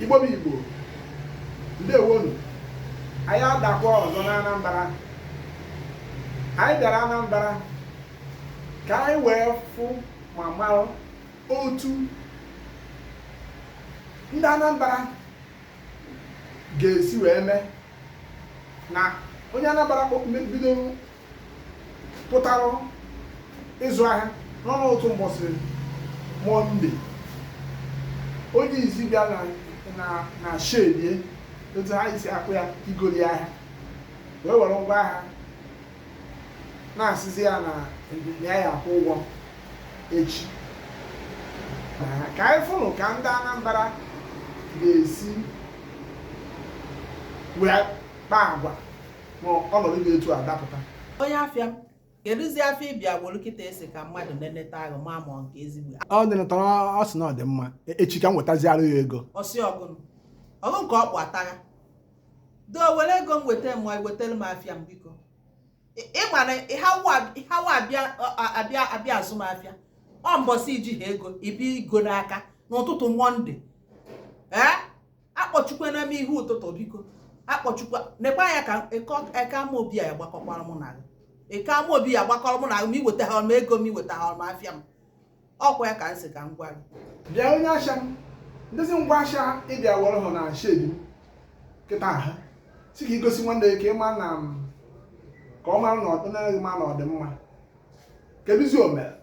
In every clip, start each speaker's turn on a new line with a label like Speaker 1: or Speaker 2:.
Speaker 1: Igbo bụ Igbo, ndewonụ. Anyị adakwa ọzọ na Anambra. Anyị bịara Anambra ka anyị wee fụ ma mara otu ndị Anambra ga-esi wee mee na onye Anambra bido pụtara ịzụ ahịa nọ n'otu mbọsị mọnde onye izi bịa na shedi e otu ha isi akpụ ya igoli ahịa wee were ngwa ahịa na-asịzi ya na ya ya-akwụ ụgwọ echi ka anyị fụnụ ka ndị Anambra ga-esi wee kpaa agwa ma ọnọdụ dị etu a dapụta onye afịa m kedụzi afịa ị bịa wolu kịta ị sị ka mmadụ neneta ahụ ma ma nke ezigbo ọ dịnụtara ọ sị na ọ dị mma E- echi ka m wetaziara ya ego ọ sị ọ gịnị ọgụ nke ọkpụ atagha do were ego m weta ma ọ i wetara m afịa m biko Ị- ị ma na ịhawa abịa ọ- a- abịa abịa azụ m afịa ọ mbọsị i jiha ego ị bịa ịgba m aka n'ụtụtụ mọnde ee akpọchukwana m ihe ụtụtụ biko akpọchukwa nekwa anya ka Eke Amaobi a gbakọkwara mụ na Eke Amaobi ya-agbakọrọ mụ na ma i wetahọ m ego m i wetahọ m afịa m ọ kwa ya ka m si ka m gwa gị bịa onye asha m ndezi ngwa asha ị bịa were m na shedi m kịta ị sị ka i gosi nwanne gị ka ị ma na ka ọ mara na ọ dịnaghị ma na ọ dị mma kedụzi o mere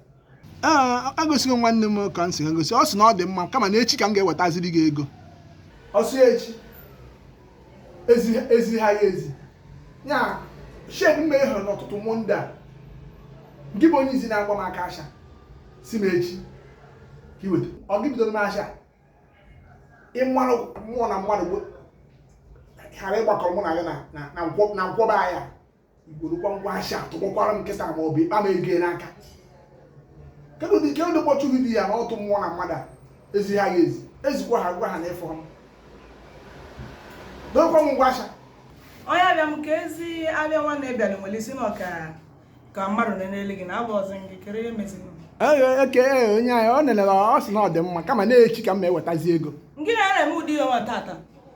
Speaker 1: agosigo nwanne m ka m si gosi ọ sị na ọ dị mma kama na echi ka m ga-ewetaziri gị ego ọ sị echi ezi ha ya ezi ya shed m mehere n'ụtụtụ mọnde a gị bụ onye izi na-agba m aka asha sị m echi ka i weta ọ gị bidoro m asha ị ma na mmụọ na mmadụ ghara ịgbakọrọ mụ na gị na nkwọba ahịa igborokwa ngwa ahịa atụkpọkwara m nkịta ma ọ bụ ị kpa m ego n'aka kedụ dị kedụ dị kpọchụ vidiyo ya na ọtụ mmụọ na mmadụ a ezi ha ya ezi ezikwa ha gwa ha na ịfọ m dokwa m ngwa ahịa onye ahịa m ka ezi abịa nwanne bịara were sị na ka mmadụ nele gị na abụ ọzọ gị kedụ ihe meziri eke onye ahịa o nelere ọ sị na ọ dị mma kama na echi ka m ewetazi ego gị na-eme ụdị ihe nwa taata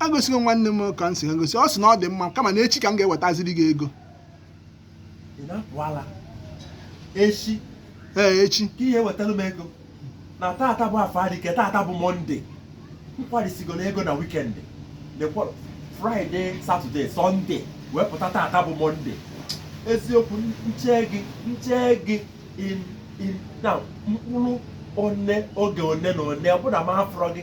Speaker 1: agosigo nwanne m ka m si gosi ọ sị na ọ dị mma kama na echi ka m ga-ewetaziri gị ego echi ee echi ka ị ya-ewetara m ego na taata bụ afọ adịke taata bụ mọnde m kwarisigo ego na wikendi fraịde satọde sọnde wee pụta taata bụ mọnde eziokwu nche gị nche gị in in na mkpụrụ one oge one na one ọ bụ na m amarọ gị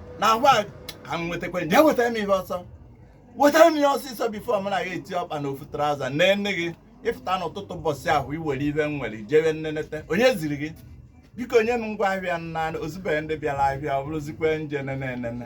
Speaker 1: na agwa ka m nwetakwa ya wetara m ihe ọsọ wetara m ihe ọsịsọ bifo m na gị eti ọkpa na ofu traụza na nne gị ị pụta n'ụtụtụ ụbọchị ahụ i were ihe m nwere jewe nnenete onye ziri gị biko nye m ngwa ahịa m na o zubere ndị bịara ahịa ọ bụrụzikwa ndị na-ene enene